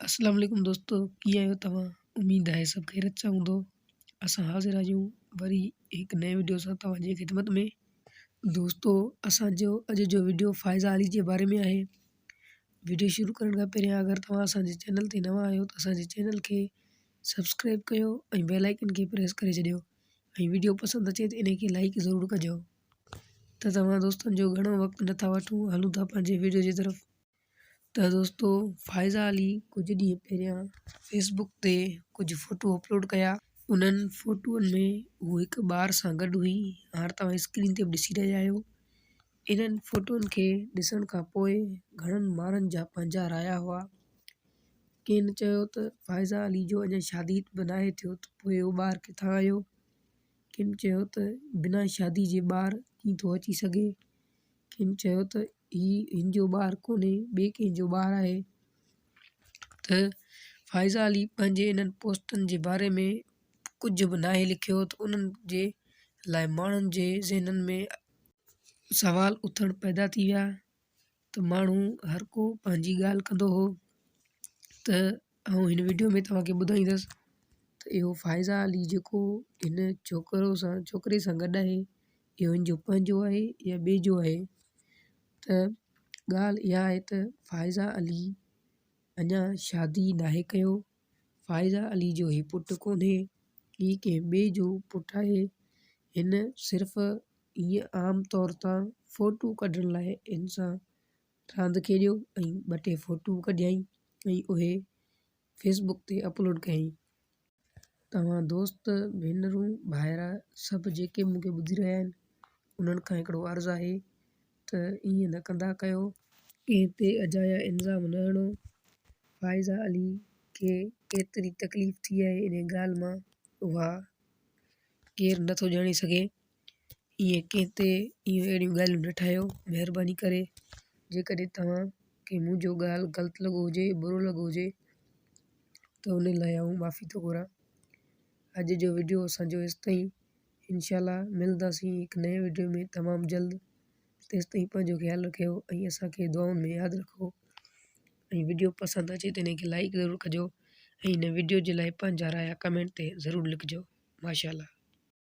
اسلام عليڪم دوستو ڪيئن آهيو توهان اميد آهي سڀ خيرت سان هوندو اسان حاضر آهيون وري هڪ نئين وڊيو سان توهان جي خدمت ۾ دوستو اسان جو اڄ جو وڊيو فائزه علي جي باري ۾ آهي وڊيو شروع ڪرڻ کان پهريان اگر توهان اسان جي چينل تي نوان آهيو ته اسان جي چينل کي سبسڪرائب ڪيو ۽ بيل آئڪن کي پريس ڪري ڇڏيو ۽ وڊيو پسند اچي ته ان کي لائڪ ضرور ڪجو ته توهان دوستن جو گهڻو وقت نٿا وٺون هلون ٿا پنهنجي وڊيو جي طرف ته دوستو فائزه علي ڪجهه ڏينهن پهريان فيسبڪ تي ڪجهه فوٽو اپلوڊ ڪيا انهن فوٽوئن ۾ هو هڪ ٻار سان گڏ هئي هاڻ توهان اسڪرين تي به ڏسي رهيا آهيو انهن فوٽوئن کي ڏسڻ کان پوء گهڻن ماڻهن جا پنهنجا رايا هئا ڪنهن چيو ته فائزه علي جو اڃا شادي به ناهي ٿيو ته پوء اهو ٻار ڪٿان آيو ڪن چيو ته بنا شادي جي ٻار ڪيئن ٿو اچي سگهي ڪنھن چيو ته هي هن جو ٻار ڪونهي ٻئي ڪنھن جو ٻار آهي ته فائزه علي پنھنجي انھن پوسٽن جي باري ۾ ڪجهه به ناهي لکيو ته انھن جي لاء ماڻهن جي ذهنن ۾ سوال اٿڻ پيدا ٿي ويا ته ماڻهو هرڪو پنھنجي ڳالهه ڪندو هو ته آئون هن وڊيو ۾ توهان کي ٻڌائيندس ته اهو فائزه علي جيڪو هن ڇوڪرو سان ڇوڪري سان گڏ آهي اهو هن جو پنهنجو آهي يا ٻئي جو آهي ته ڳالهه اها آهي ته فائزه علي اڃا شادي ناهي ڪيو فائزه علي جو هي پٽ ڪونهي هي ڪنهن ٻئي جو پٽ آهي هن صرف ائين عام طور تان ڦوٽو ڪڍڻ لاء انسان راند کيڏيو ۽ ٻه ٽي فوٽو ڪڍيائين ۽ اهي فيس بڪ تي اپلوڊ ڪيائين. توهان دوست، ڀينرون، ڀائرا سڀ جيڪي مون کي ٻڌي رهيا آهن انهن کان هڪڙو عرض آهي ته ائين نه ڪندا ڪيو. ڪنهن تي اجايا الزام نه هڻو. فائزه علي کي ايتري تڪليف ٿي آهي انهي ڳالهه مان اها ڪير نه ٿو ڄاڻي سگهي ائين ڪنهن تي اهيون اهڙيون ڳالهيون نه ٺاهيو مهرباني ڪري جيڪڏهن توهان کي منهنجو ڳالهه ڳلت لڳو هجي برو لڳو هجي ته ان لاء آئون معافي ٿو گهران اڄ جو وڊيو اسانجو هيس تائين انشاء الله ملنداسين هڪ نئين وڊيو ۾ تمام جلد تيس تائين پنهنجو خيال رکيو ۽ اسانکي دعائن ۾ ياد رکو ۽ وڊيو پسند اچي ته ان کي لائڪ ضرور ڪجو ۽ هن وڊيو جي لاء پنهنجا رايا ڪمينٽ تي ضرور لکجو ماشاء الله